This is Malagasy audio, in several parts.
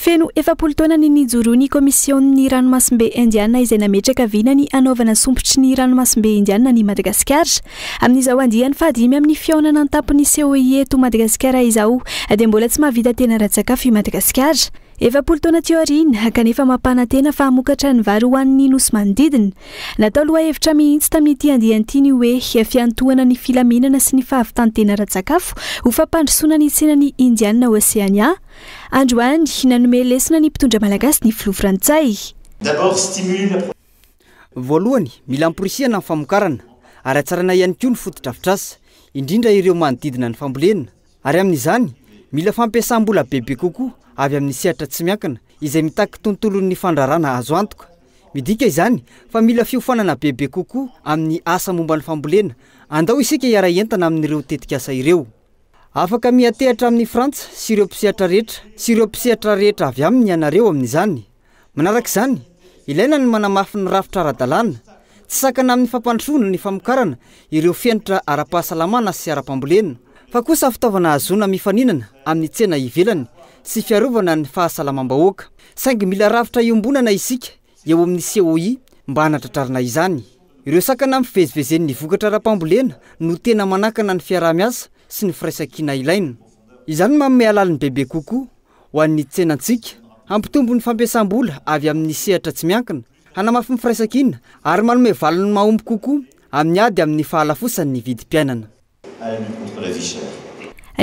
Feno efapolo taona ny nijoroan'ny Komisionin'ny Ranomasimbe Indiana izay nametraka vina ny hanaovana sompitry ny Ranomasimbe Indiana an'i Madagasikara. Amin'izao andiany fahadimy amin'ny fihaonana an-tampon'ny COI eto Madagasikara izao dia mbola tsy mahavita tena ara-tsakafo i Madagasikara. Efapolo taona teo aoriana, kanefa mampanantena fa hamokatra ny vary ho an'ny nosy manodidina. Natao lohahevitra mihitsy tamin'ity andiany ity ny hoe fiantohana ny filaminana sy ny fahavitan-tena ara-tsakafo ho fampandrosoana ny tsenan'i Indiana Oceania, Androany, nanome lesona ny mpitondra malagasy ny filoha frantsay. Voalohany, mila amporisihana ny famokarana ary hatsaraina ihany koa ny fotodrafitrasa, indrindra ireo manodidina ny fambolena. Ary amin'izany, mila fampiasam-bola bebe kokoa avy amin'ny sehatra tsy miankina izay mitaky tontolon'ny fandrarana azo antoka. Midika izany fa mila fiofanana bebe kokoa amin'ny asa momba ny fambolena. Andao isika hiara-hientana amin'ireo tetikasa ireo. Afaka miha-tehatra amin'i Frantsa sy ireo mpisehatra rehetra sy ireo mpisehatra rehetra avy aminy ianareo amin'izany. Manaraka izany, ilaina ny manamafy ny rafitra ara-dalàna, tsy sakana amin'ny fampandrosoana ny famokarana ireo fenitra ara-pahasalamana sy ara-pambolena, fa kosa fitaovana ahazoana mifaninana amin'ny tsena ivelany sy fiarovana ny fahasalamam-bahoaka. Saingy mila rafitra iombonana isika eo amin'ny COI mba hanatratrarana izany. Ireo sakana ampivezivezen'ny vokatra ara-pambolena no tena manakana ny fiaraha-miasa sy ny firaisankina ilaina. Izany no manome alaliny bebe kokoa ho an'ny tsenantsika, hampitombo ny fampiasam-bola avy amin'ny sehatra tsy miankina, hanamafy ny firaisankina ary manome valiny mahomby kokoa amin'ny ady amin'ny fahalafosan'ny vidim-piainana.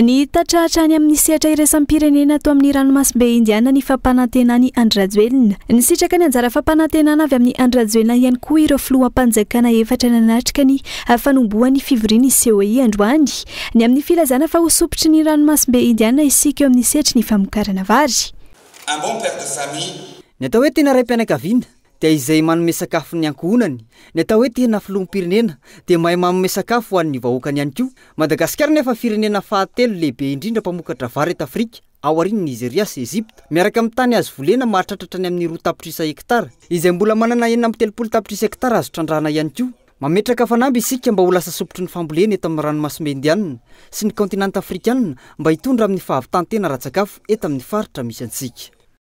Niitatra hatrany amin'ny sehatra iraisam-pirenena ato amin'ny ranomasimbe Indiana ny fampanantenan'i Andry Rajoelina. Nisitraka ny anjara fampanantenana avy amin'i Andry Rajoelina ihany koa ireo filoham-panjakana efatra nanatrika ny fanombohan'ny fivorian'ny COI androany, ny amin'ny filazana fa ho sompitry ny ranomasimbe Indiana isika eo amin'ny sehatry ny famokarana vary. Ny atao hoe tena raim-pianakaviana. dia izay manome sakafo ny ankohonany, ny atao hoe tena filoham-pirenena dia mahay manome sakafo ho an'ny vahoakany ihany koa. Madagasikara anefa firenena fahatelo lehibe indrindra mpamokatra vary eto Afrika, aorian'i Nizeria sy Egypta, miaraka amin'ny tany azo volena mahatratra hatrany amin'ny roa tapitrisa hektara, izay mbola manana enina amby telopolo tapitrisa hektara azo trandrahana ihany koa. Mametraka fanamby isika mba ho lasa sopitry ny fambolena eto amin'ny ranomasimbe Indiana sy ny kaontinanta Afrikana mba hitondra amin'ny fahavitan-tena ara-tsakafo eto amin'ny faritra misy antsika.